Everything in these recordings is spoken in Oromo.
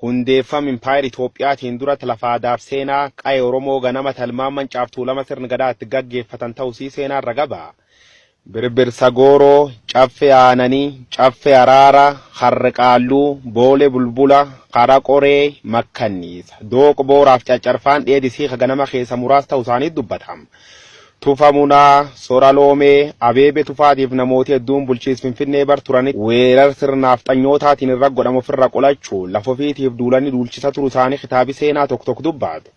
Hundeeffam Impaayera Itoophiyaatiin durat lafa aadaaf seenaa qa'e Oromoo ganama talmaan Mancaaf Tuulama sirn Gadaa itti gaggeeffatan ta'usii seenaan raga ba'a. Birbirsa Gooroo, Caffee Aananii, Caffee Araara, Harre Qaalluu, Boole Bulbula, Hara Qoree, Makkanniisa, Dooq Booraaf Caccarfaan dheedisii ka ganama keessa muraas ta'usaanii dubbatam. Tufa Munaa, Sora Loomee, Abeebe Tufaatiif namooti hedduun bulchiis Finfinnee bar turanitti weerar sirna naafxanyootaatiin irra godhame ofirra qolachuun lafa ofiitiif duulanii duulchisa turu isaanii kitaabi seenaa tok tok dubbaatu.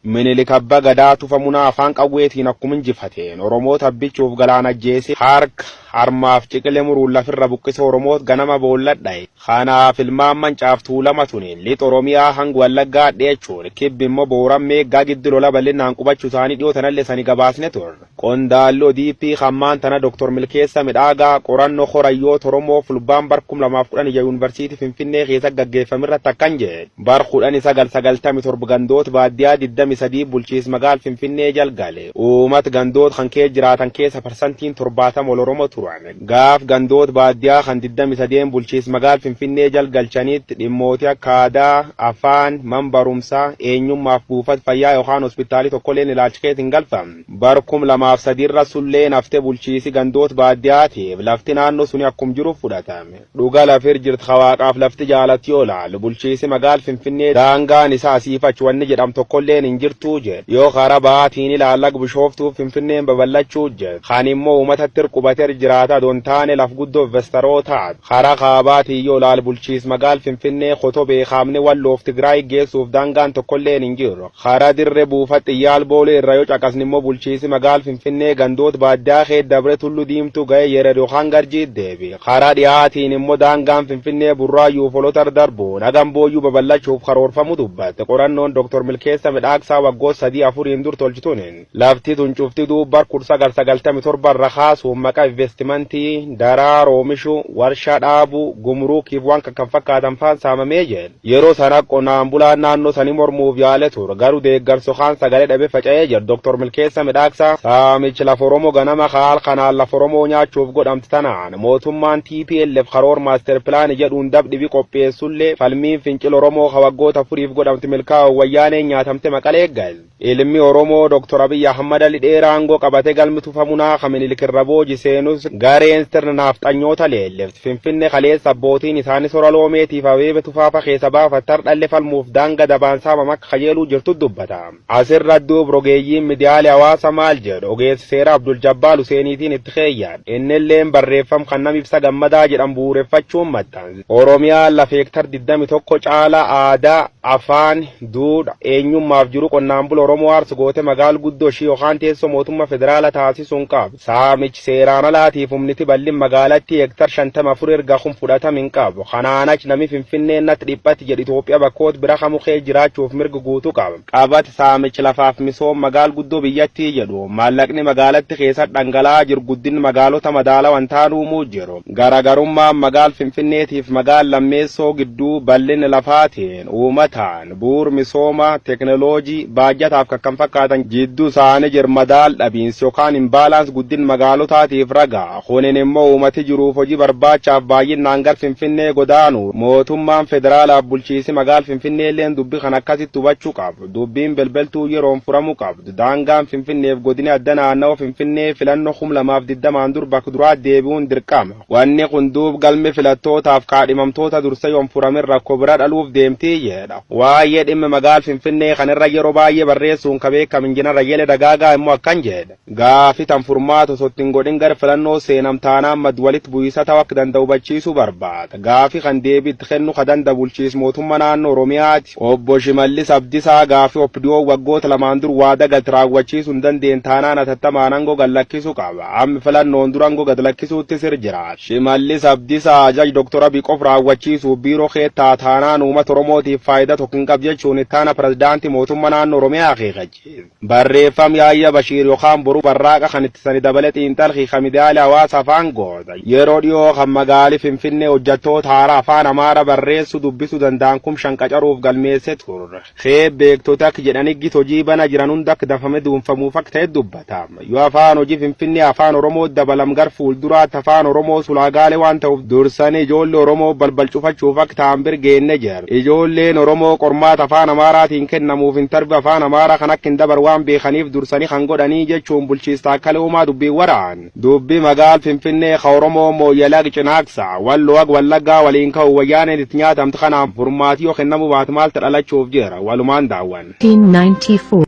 Minilik Abba Gadaa Tufa Munaa afaan qawweetiin akkuma injifateen Oromoota abbichuuf galaan ajjeesee harka Harmaaf ciqile muruun lafirra buqqise Oromoot ganama boolla dhaye. Kanaaf ilmaan Mancaaf Tuulama tuni Lix Oromiyaa hang Wallaggaa hadheechuun Kibbi immo Booran Meeggaa giddu lola bal'innaan qubachuu isaanii dhiyoo tanalle isani gabaasne turre. Qondaalli odp kan maan tana Dr. Milkeessa Midhaagaa qoranno kora hiyyoota Oromoo Fulbaan bar 2016 Yuunivarsiitii Finfinnee keessatti gaggeeffame irratti akkan jedhe. Bar 1997 gandoot baaddiyaa 23 bulchiis magaal Finfinnee jal gale. Uumat gandoot kan kees jiraatan keessa parsantiin 70 ol Oromo turan. Gaaf gandoot baaddiyaa kan 23n bulchiis magaal Finfinnee jal galchanitt dhimmooti akka aadaa, afaan, man barumsa, eenyummaaf buufat fayyaa yokaan hospitaali tokkoleen ilaalch kees hin galfam. Bar 2003 irra sulleen hafte bulchiisi gandoot baaddiyaatiif lafti naanno suni akkum jirutt fudhatame. Dhuga lafir jirt ka waaqaaf lafti jaalatti yoo laalu bulchiisi magaal finfinnee daangaan isa asiif achi wanni jedham tokkolleen hin jirtuu jed yoo kara bahaatiin ilaal ag bishooftuuf finfinneen babal'achuu jed kan immoo umatattir qubater jiraata don taane laf guddo investarotaat kara kaabaatiin yoo laal bulchiis magaal finfinnee kotobee kaamni walloof tigraay geessuuf daangaan tokkolleen hin jiru Karaa dirre buufat xiyyaal Boolee irraa yoo caqasne immoo bulchiisi magaal Finfinnee gandoot baaddiyaa keet dabre Tullu Diimtuu ga'ee Yered yokaan Garjiit deebi'a. Karaa dhihaa tiin immoo daangaan Finfinnee Burraayyuu fi Olotar darbuun hagam Booyyuu babal'achuuf karoorfamu dubbatte qorannoon Dr. Milkeessa Midhaagsaa waggoot sadii afuriin dur tolch tunin. Lafti tun cufti duub bar 1997 irra kaasuun maqa investimantii, daraar oomishu, warshaa dhaabu, gumuruukii fi waan kan kan fakkaatan faan saamamee jedhe. Yeroo sana qonaan bulaan naannoo sanii mormuuf yaale ture. Garu deeggarsi yokaan sagalee dhabe faca'ee jedhu Dr. Milkeessa Midhaaksaa. Saamichi lafa Oromoo ganama ka halkanaan lafa Oromoo nyaachuuf godhamte tanaan mootummaan tplf karoor maaster pilaani jedhuun dab dhibi qopheessullee falmiin fincila Oromoo ka waggoota afuriif godhamte milkaa'uun wayyaaneen nyaatamte maqalee galte. Ilmi Oromoo Dr. Abiy Ahmad ali dheera aangoo qabate galmi tufa munaa ka Minilik irra booji seenus gareen sirna naafxanyoota leelliftu Finfinne kaleessa abbootiin isaani sora loomeetiif abeebe tufaa fa keessa baafatte hardhalle falmuuf daanga dabaan saamam akka kajeeluu jirtu dubbata. As irra duub rogeeyyiin midiyaale hawaasa maal jedhu ogeessi seera Abdul Jabbaal Huseeniitiin itti keeyyan. Innilleen barreeffam kan Nam Ibsa Gammadaa jedhamu bu'uureffachuun maxxanse. Oromiyaa lafa hektar 21 caala aadaa, afaan, duudha, eenyummaaf jiruu qonnaan bula Oromoo aarsu goote magaal guddoo ishii yokaan teessoo mootumma federaala taasisuun qabdi. Saamich seeraan alaatiif humniti ballin magaalattii hektar 54 erga kun fudhatam hin qabu. Kanaan ach nami Finfinnee nat dhiphatti jedhu Itoophiya bakkoot bira kamu kees jiraachuuf mirg guutu qaba. Qabat saamich lafaaf misoom magaal guddoo biyyattii jedhu maallaqni magaalatti keessat dhangala'aa jiru guddin magaalota madaalawa hin taan uumuu jiru. Garaagarummaan magaal Finfinneetiif magaal Lammeessoo gidduu bal'inna lafaatiin, uumataan, bu'uur misooma, teknoloojii, baajataaf kkf jidduu isaani jir madaal dhabiinsi yokaan imbalance guddin magaalotaatiif raga. Kunin immoo uumati jiruuf hojii barbaachaaf baay'innaan gar Finfinnee godaanu. Mootummaan federaalaaf bulchiisi magaal Finfinneelleen dubbi kana akkasitti hubachu qab. Dubbiin belbeltuu yeroon furamu qabdu. Daangaan Finfinneef Godini Adda Naannawa Finfinnee filanno kum lamaa fi digdamaan dur bak duraat deebi'uun dirqama. Wanni kun duub galmi filattootaaf kaadhimamtoota dursa yon furamin rakko bira dhaluuf deemti jedha. Waayee dhimma magaal Finfinnee kan irra yero baay'ee barreessuun ka beekam Injinar Ayyele Dagaagaa immo akkan jedha. Gaafi tan furmaata osoo itti hin godhin gara filannoo seenam taanaan mad walitti bu'iisa ta'u akka danda'u hubachiisuu barbaada. Gaafi kan deebii itti kennu ka danda bulchiis mootumma naannoo Oromiyaati. Obbo Shimallis Abdisaa gaafi OPDOn waggoota lamaan dur waada galte raawwachiisu hin dandeenye taanaan hatattamaan ango gad lakkisu qaba. Ammi filannoon dura ango gad lakkisuutti sir jiraata. Shimallis Abdisaa ajaj Dr Abiy qof raawwachiisuuf biiroo keet ta'a taanaan uumata Oromootiif faayida tokko hin qabdu jechuun ittaana pirezidaantii mootumma naannoo Oromiyaa akeekachiise. Barreeffam Yaayya Bashiir yokaan Boru Barraaqa kan itti sani dabale xiinxalkhi ka midiyaale hawaasa afaan goota yeroo dhiyoo kan magaali Finfinnee hojjattoota haaraa afaan Amaara barreessu dubbisu danda'an kum shan qacaruuf galmeesse turre. Kheeb beektoti akk jedhani git hojii bana jiran hund akk danfame duunfamuuf akk ta'e dubbata. Yoo afaan hoji Finfinnee afaan Oromoo dabalam gar fuulduraatti afaan Oromoo sulaagaale waan ta'uuf dursani ijoolle Oromoo balbal cufachuuf akk ta'an bir geenne jira. Ijoolleen Oromoo qormaata Afaan Amaaraatiin kennamuuf interview Afaan Amaaraa kan akka hin dabar waan beekaniif dursanii kan godhanii jechuun Bulchiis Taakkalee Uumaa dubbii waraan dubbii magaal Finfinnee ka Oromoo Mooyyale ag Cinaaksaa, Walloo ag Wallaggaa waliin ka'u Wayyaaneen itti nyaatamte kanaan furmaati yoo kennamuu baate maalta dhalachuuf jira walumaan daawwanna. 1994